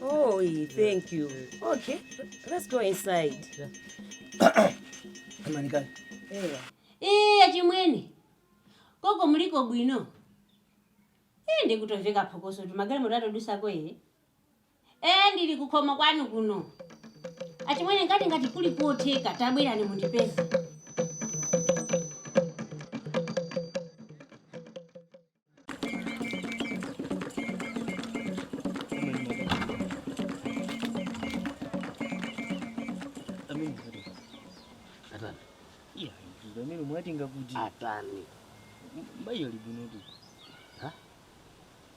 Oh, yeah, thank you. Okay, let's go inside. Amanikali. Eya. Ee, achimwene. Koko muliko bwino. Ee, ndikutomva phokoso kuti magalimoto akudutsako. Ee, ndili kukhomo kwanu kuno. Achimwene ngati ngati kuli kotheka tabwerani mundipeze. Ndimomwe mwati nanga kuti atani mai ali bwinotu Ha?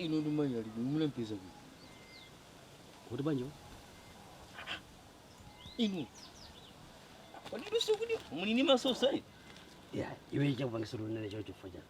ino ndi mai ali bwino munampeza kuti kuti banjo ino kodi luso kuti muli ni masosa ino ya iwe chakupangisira unene choncho chifukwa chani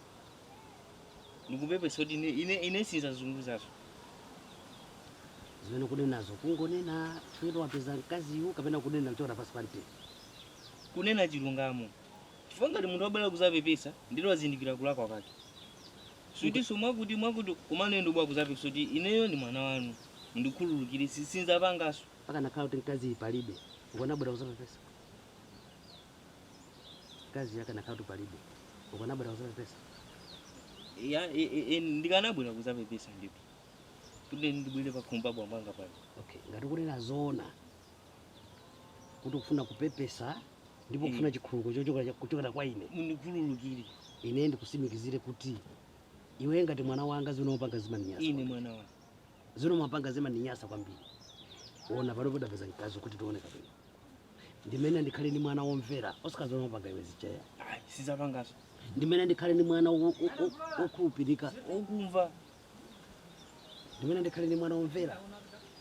ndikupepesa kuti ine ine ine sindzakuzunguzaninso zimene ukunenazo ukungonena chifukwa wapeza mkaziyu kapena ukunena kuchoka pansi pa mtima ukunena chilungamo chifukwa ngati munthu wabwera kuzapepesa ndiye wazindikira kulakwa kwake sikutinso mwakuti mwakuti kumanena ndabwera kuzapepesa kuti ineyo ndi mwana wanu mundikhululukire si- sinzapanganso pakanakhala kuti mkaziyi palibe ukanabwera kuzapepesa mkaziyu akanakhala kuti palibe ukanabwera kuzapepesa Ya, e, e, e, ndikanabwera kuzapepesa ndipo kuti ndibwere pakhomo pa bambo anga pano okay ngati ukunena zoona kuti ukufuna kupepesa ndipo Eh. ukufuna chikhululuko chochokera kuchokera kwa ine mundikhululukire ine ndikusimikizire kuti iwe ngati mwana wanga zimene umapanga zimandinyasa ine mwana wanga zimene umapanga zimandinyasa kwambiri ona pano poti wapeza mkazi kuti tione kapena ndimene ndikhale ndi mwana womvera osati zomwe wapanga iwe zichaya Ayi, sinzapanganso ndimene ndikhale ndi mwana wo- wo- wo- wokhulupirika okumva ndimene ndikhale ndi mwana womvera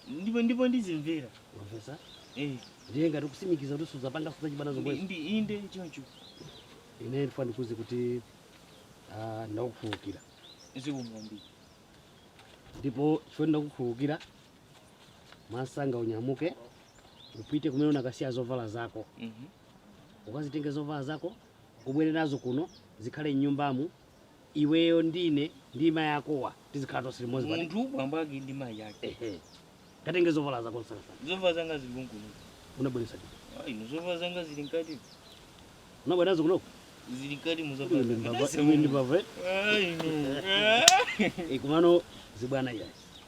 ndipo ndipo ndizimvera mwamvetsa Eh, ndiye ngati ukusimikiza kuti suzapanga zachibwana ndi- zomwezo ndi inde choncho ine ndifuna ndikuuze kuti ah, ndakukhululukira zikomo kwambiri ndipo chifukwa ndakukhululukira mwamsanga unyamuke upite kumene unakasiya zovala zako Mhm. ukazitenge zovala zako ubwere nazo kuno zikhale mnyumbamu iweyo ndine ndi mayi akowa tizikhala tonse limodzi ngati munthu bambo ake ndi mayi yake Ehe. katenge zovala zako msangamsanga zovala zanga zili konkuno unabweretsa kuti Ah, ino zovala zanga zili mkati unabwera nazo kunoko zili mkati mu zovala zanga. Ndasema. ndibava Ah, ino. Ah. kumano zibwana iyayi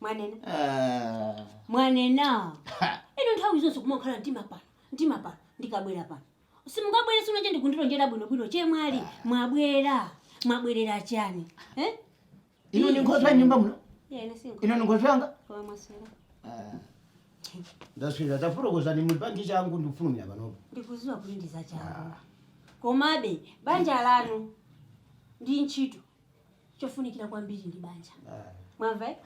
mwanena Ah. mwanena Ha. inu nthawi zonse kumakhala mtima pano mtima pano ndikabwera pano simungabwere sino che ndikundilonjera bwinobwino che mwali mwabwera mwabwerera chani eh? inu ndi nkhoswe ya nyumba muno Yeah, ine si nkho- inu ndi nkhoswe yanga koma mwaswera Ah. ndaswera tafotokozani muli panji changu ndikufulumira panopo ndikuziwa kuti ndizachangu komabe banja lanu ndi ntchito chofunikira kwambiri ndi banja Ah. mwamva eh?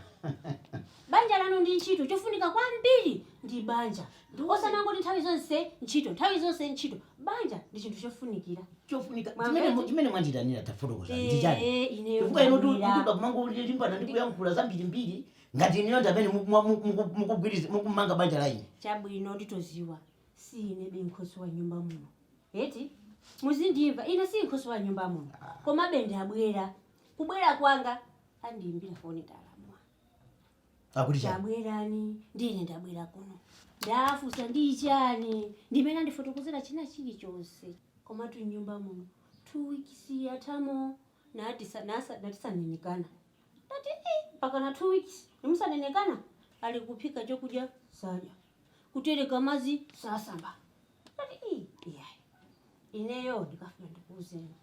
banja lanu ndi ntchito chofunika kwambiri ndi banja osamangoti nthawi zonse ntchito nthawi zonse ntchito banja ndi chinthu chofunikira chofunika Mwamva chimene eti? mu- chimene mwandiitanira tafotokoza Eh, ndichani eh, ineyo chifukwa inu ndabwera. tukuba kumangolimbana ndi kuyankhula zambirimbiri ngati ineyo ndi amene muku- muku- muku- mukugwiriza- mukumanga banja la ine chabwino nditoziwa si inebe nkhoswe wa nyumba muno Eti muzindimva ine si nkhoswe wa nyumba muno komabe ndabwera kubwera kwanga andiimbira foni ndalamwa akuti chani tabwerani ndine ndabwera kuno ndafusa ndi chani ndi mmene andifotokozera china chilichonse komatu nyumba muno two weeks yathamo natisa- nasa- natisanenekana ndati "Eh, mpaka na two weeks nimusanenekana ali kuphika chokudya sadya kutereka madzi sasamba ndati "Ii, iyayi ineyo ndikafuna ndikuuzeni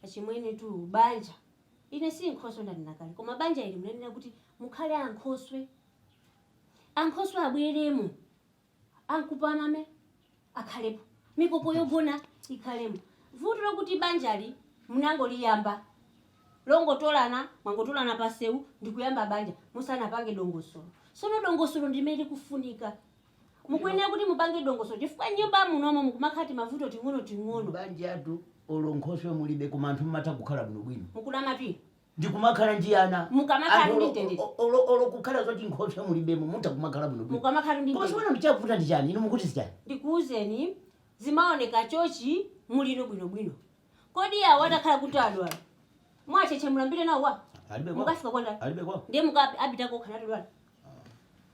achimwene tu banja ine si nkhoswe ndanena kale koma banja ili munanena kuti mukhale ankhoswe ankhoswe abweremo ankupamame akhalepo mikoko yogona ikhalemo vuto lokuti banjali munangoliyamba longotolana mwangotolana panseu ndikuyamba banja musanapange dongosolo sono dongosolo ndilimene likufunika mukuyenera kuti mupange dongosolo chifukwa nyumba munomo mukumakhala timavuto ting'onoting'ono banjatu olo nkhoswe mulibe koma anthu mmatha kukhala bwinobwino mukunamatu inu ndikumakhala ndi ana Mukamakhala Anthu ndi olo- mtendere. o- olo olo kukhala zoti nkhoswe mulibemo mutha kumakhala bwinobwino mukamakhala ndi koma mtendere. tsopano ndichavuta ndi chani inu mukuti zichani ndikuuzeni zimaoneka chochi mulimo bwinobwino Kodi awo atakhala kuti adwala. Mwacheche mulambire nawo kwa? Alibe kwa. Mukafika kwa ndani? Alibe kwa. Ndiye mukapita kokha natodwala.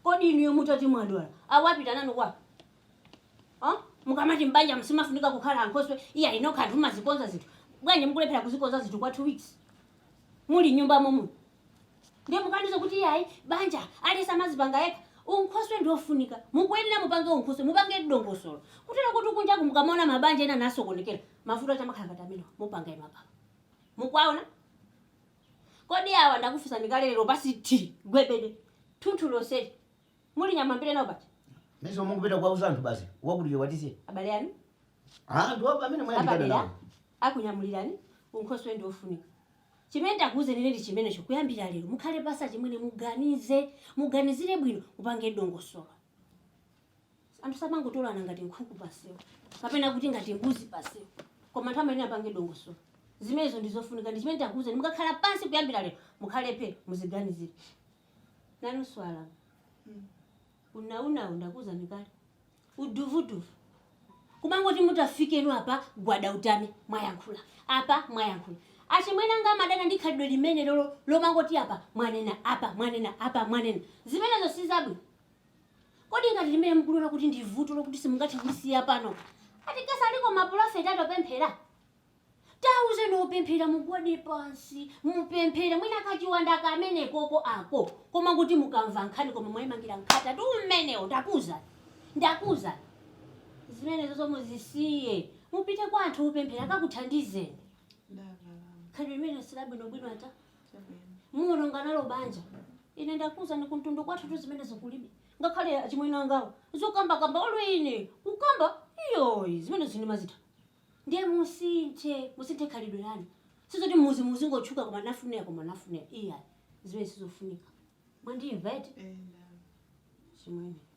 Kodi inuyo mutati mwadwala. Awo apita nanu kwa? Oh? Mukamati mbanja msimafunika kukhala ankhoswe. Iya inokha anthu mazikonza zinthu. Bwanji mukulephera kuzikonza zinthu kwa 2 weeks. Muli nyumba momu. Ndiye mukandiuza kuti yayi banja aliyense amazipanga yekha. Unkhoswe ndi ofunika. Mukuyenera mupange unkhoswe, mupange dongosolo. Kutero kuti kunja kuno mukamaona mabanja ena amasokonekera. mavuto ati amakhala ngati amenewa mukupanga inu apa mukuwaona kodi awa ndakufunsani kale lero pasi ti gwebede thunthu lonseli muli nyama mbiri nawo pati Mesa mukupita kwa uzantu basi. Wakuti watisi. abale anu Ah, ndo hapa mimi mwayandikana apadera nawo. akunyamulirani unkhoswe ndi ofunika chimene ndakuwuzani ndi chimenecho kuyambira lero mukhale pansi chimwene muganize muganizire bwino mupange dongosolo anthu samangotolana ngati nkhuku pamsewu kapena kuti ngati mbuzi pamsewu koma anthu amanena apange dongosolo zimenezo ndi zofunika ndi chimene ndakuwuzani mukakhala pansi kuyambira lero mukhale pe muziganizire nanu swala unaunawu ndakuwuzani kale uduvuduvu kumangoti mutafika inu apa gwada utame mwayankhula apa mwayankhula achimwene anga amadana ndi khalidwe limenelolo lomangoti apa mwanena apa mwanena apa mwanena zimenezo si zabwino Kodi ngati limene mukuliona kuti ndi vuto lokuti simungathe kulisiya pano, ati kasaliko mapulofeti atopemphera? Tauzeni opemphera mugwade pansi mupemphere mwina kachiwanda kamenekoko ako koma kuti mukamva nkhani koma mwaimangira mkhata tu umenewo ndakuuzani ndakuuzani zimenezozo muzisiye mupite kwa anthu opemphera akakuthandizeni khalidwe limene silabwinobwino ata muwononga nalo banja ine ndakuuzani kumtundu kwathutu zimenezo kulibe ngakhale achimwene angawo zokambakamba olo ine kukamba iyoyi zimenezi ndimazida ndiye musinthe musinthe khalidwe lanu sizoti muzi muzingotchuka koma nafunira koma nafunira iya zimenezi sizofunika mwandimva eti chimwene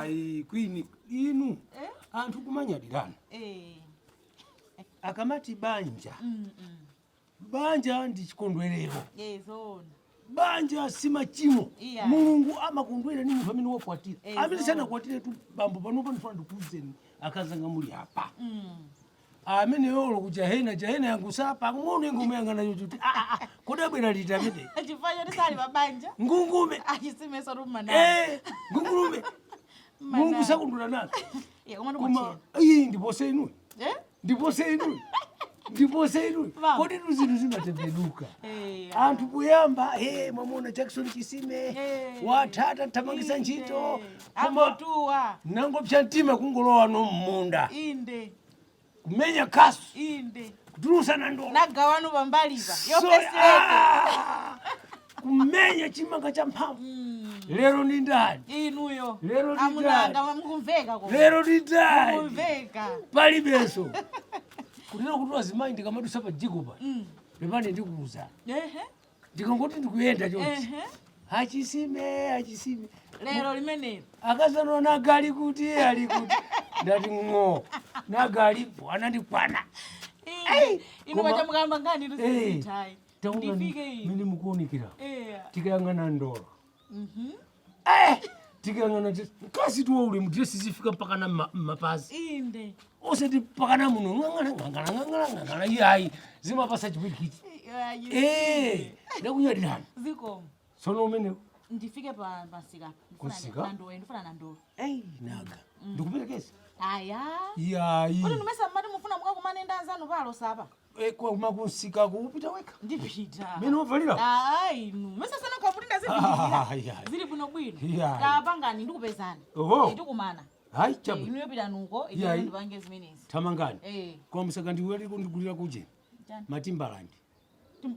ayi kwini inu eh? anthu kumanyadirana eh. akamati banja mm, mm. banja ndi chikondwerero eh, banja si machimo yeah. mulungu amakondwera ni munthu amene wakwatira amene sanakwatiretu bambo panopa ndifuna ndikuuzeni akazanga muli apa mm. ameneyo olo kujahena jahena yangu sapa ng'ono ikungomuyang'ana kuti ah, ah, ah, kodi abwera liti amene chifukwa choti sali pabanja ngumbeta a Chisimenso rumana eh, ngungume mulungu sakondwera nazo koma koma iyi ndipose inu Eh? ndipose inu ndipose inu Baba. kodi tu zinthu zimatembenuka Eh, anthu kuyamba he mwamuona jackson chisime Eh. wathata thamangisa ntchito amwamtuwa nangopsya mtima kungolowano mmunda inde kumenya kasu inde kutulusana ndolo na gawano pambalipa Sorry. yopesete Ah! kumenya chimanga cha mphamvu lero ni ndani inuyo Lero ndi amunanga ndani? mukumveka ko lero ni ndani mukumveka palibenso kutero kuti wazimayi ndikamadusa pa dziko pa pepani ndikuuza ehe ndikangoti ndikuyenda chonchi achisime achisime lero limenelo akazanwa nagali kuti ali kuti ndati ng'o nagalipo anandikwana inu koma- pachamukamba nkhani Eh, tuzitayi taona ndifike ine mene mukuonekera tikayang'ana ndolo Eh, tikayang'ana kasi tuwa uli mudresi zifika mpaka na ma- mapazi inde osati mpaka na muno ng'ang'ana ng'ang'ana ng'ang'ana ng'ang'ana iyayi zimapasa chipwirikiti Eh, ndakunyadirani zikomo sono umenewo ndifike pa pasika Kusika? ndowe ndifuna na ndowe eyi naga ndikuperekeza aya iyayi kuti ndimesa mmati mufuna mukakumane ndi anzanu palo sapa Eh, kwa kumsikaku upita weka ndipita mene uvalira ainu mesasana kwa kuti Ah, ayi, ayi. zili bwino bwino Yeah. kapangani ndikupezani Oho. tikumana hayi chabu inu yopita nuko Yeah, ayi. ndipange zimenezi tamangani Eh, kwa msaka ndiweli kundigulira kuje chani? matimbalandi Tim-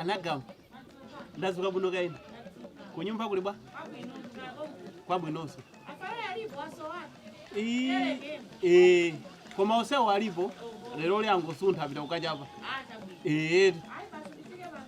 anagama ndazuka bwino kaini kunyumba kuli bwa kwabwinonso Ii, eh, koma onsewo alipo lero lyangosuntha apita kukachapa ee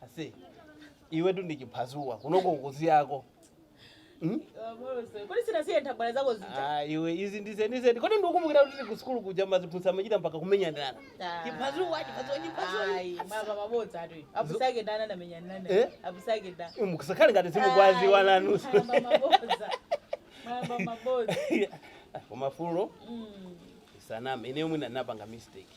Ase, iwetu ndi chiphazuwa kunoko size yako hmm? kodi sunasiye nthabwala zako zija ah, iwe izi ndizenizeni kodi ndikukumbukira kuti ku sukulu kuja maziphunzitsa amachita mpaka kumenyanirana ah. chiphazuwa chiphazuwa chiphazuwa mabodza atu abusa ake ndani anamenyanirana eh? abusa ake ndani eh, mukusakhale ngati simukuwadziwa nanu koma fulo mm. usaname ineyo mwina ndinapanga mistake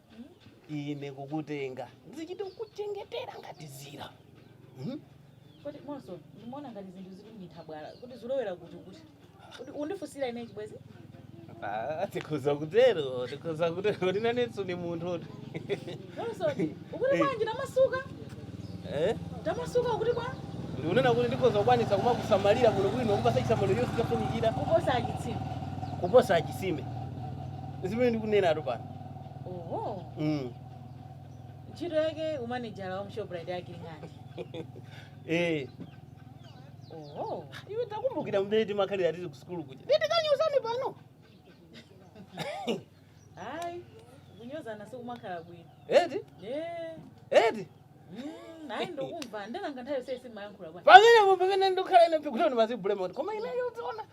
ine kukutenga ndizichita kukuchengetera ngati dzira Mhm. kodi monse ndimaona ngati zinthu zili munthabwala kuti zilowera kuti kuti kuti undifunsira ine chibwezi Ah, tikhoza kutero tikhoza kutero tinenetse ni munthu oti monso ukuti bwanji tamasuka Eh? tamasuka kuti bwa ndikunena kuti ndikhoza kukwanisa kumakusamalira bwino bwino kukupatsa chisamaliro chonse chofunikira kuposa achitsiku kuposa achisime zimene ndikunenatu pano oho mm. ntchito yake umanejala wa mshoprite yake ili ngati eh. oho iwe takumbukira mmene timakhalira tili ku sukulu kuja nde tikanyozane pano ayi kunyozana sikumakhala bwino eti Eh, eti mm, ayi ndakumva ndenanga nthawi yonse sindimayankhula bwana pamenepo pamene ndikhala ine pikuti ndimazibulema koma ineyo tiona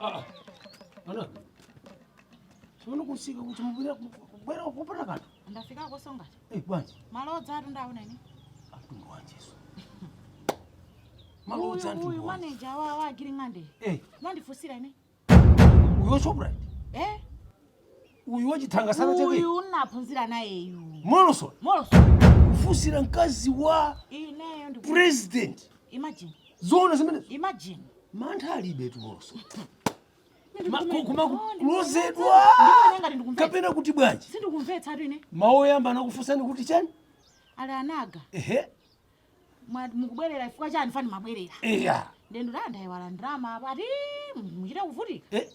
Ah, ana. Sono kusika kuti mubira kubera kupata kanthu. ndafika kosonga Eh, bwanji. malodzatu ndaona ine Atundu wanjeso. Malodza uyu antundu wanje. maneja wa Agiring'ande Eh, amandifunsira ine uyo shoprite eh uyu wachithanga sana chake uyu unaphunzira nayeyu malodza malodza kufunsira mkazi wa ineyo ndi president imagine zoona zimenezi imagine mantha alibetu malodza koma kulodzedwa kapena kuti bwanji sindikumvetsatu ine mawu oyamba anakufunsani kuti chani ali nanga ehe Mwati mukubwerera chifukwa chani fan mukubwerera? Iya. Nde nduti ndaiwala ndalama apa ati musachite kuvutika. Eh?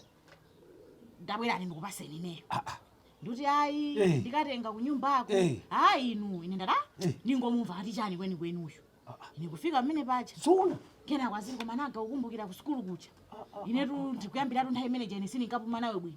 Tabwerani ndikupatseni ineyo. Ah, ah. Nduti ayi Eh. ndikatenga kunyumbako. Eh. Ayi inu ine ndada Eh. ndingomumva ati chani kwenikweni uyu. Ah, ah. Ine kufika mmene paja. Suna. Kena kwaziri koma nanga kukumbukira ku sukulu kuja. Inetu ndikuyambiratu nthawi imene ija ine sindikapuma nawe bwino.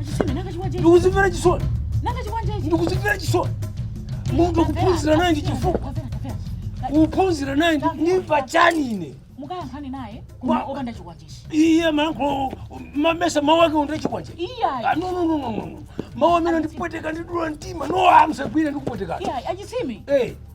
Achitime nanga chiwajeje. ndikuzimvera chisoni Nanga chiwajeje. ndikuzimvera chisoni munthu kuphunzira naye ndi chifukwa Tafera, tafera. kuphunzira naye ndi- ndimva chani ine Mukayankhani naye koma Wa- opanda chiwajeje. iye mayankhulo mumayesa mawu ake ndiye chikwanje Iyayi. Ah, no, no, no, no, no, no. mawu amene andipweteka andidula mtima no amsagwire ndikupwetekana Iyayi achitime. Eh,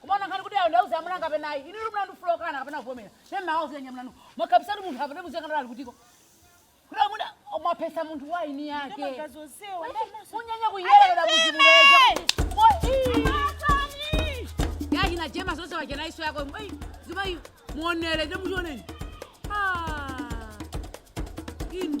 Kumaona ngati kuti ayi ndauza amuna kapena ayi. Inu mlandu mukukana kapena kuvomera. Sema awo zenya mlandu. Mwakabisa munthu apa ndipo zeka ndali kutiko. Kuti amuna mwapeza munthu wa eni ake. Munyanya kuyera na muzimuleza. Yaji na jema zonse wachana iso yako. Ei, zima hiyo. Muonele ndipo muoneni. Ah. Inu.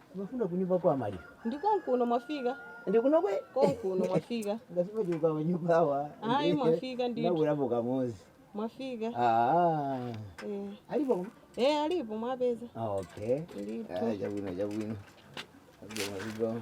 Mafuna kunyumba kwa maliro. Ndiko nkuno mwafika. Ndikuno kwe. Konkuno mwafika. Ngasipa juka wa nyumba hawa. Ayi mwafika ndi. Na ulapo kamozi. Mwafika. Ah. Eh. Alipo kuma? Eh, alipo mwapeza. Ah, okay. Alipo. Ah, jabwino, jabwino. Jabwino, jabwino.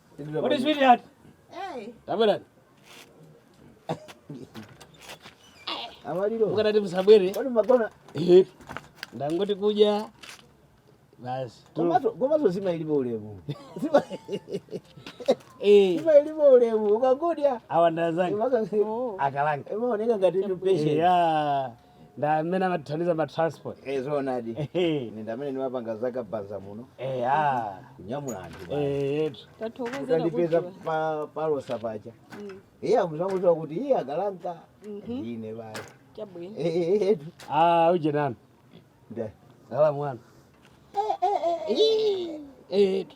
Kodi switi ati? Tabwerani. Amaliro. Mukadati musabwere. Kodi magona? Eh. Ndangoti kuja. Basi. Komato komato zima ilipo ulemu. Zima. Eh. Zima ilipo ulemu. Ukagodya. Awa ndazangi. Oh. Akalanga. Ema oneka ngati ni patient. Yeah. nda mmene amatithandiza ma transport Eh, zoonadi Ehe. ine nda mmene ndimapanga zaka banza muno Eh, ah. kunyamula anthu basi. Eh, yetu tathokozera utandipeza kudziwa. pa- palosa paja Mm, iye akudzangodziwa kuti iye akalanka mhm, ine basi chabwino Eh, eh, eh, ah uje nani nda- salamu wana Eh, yetu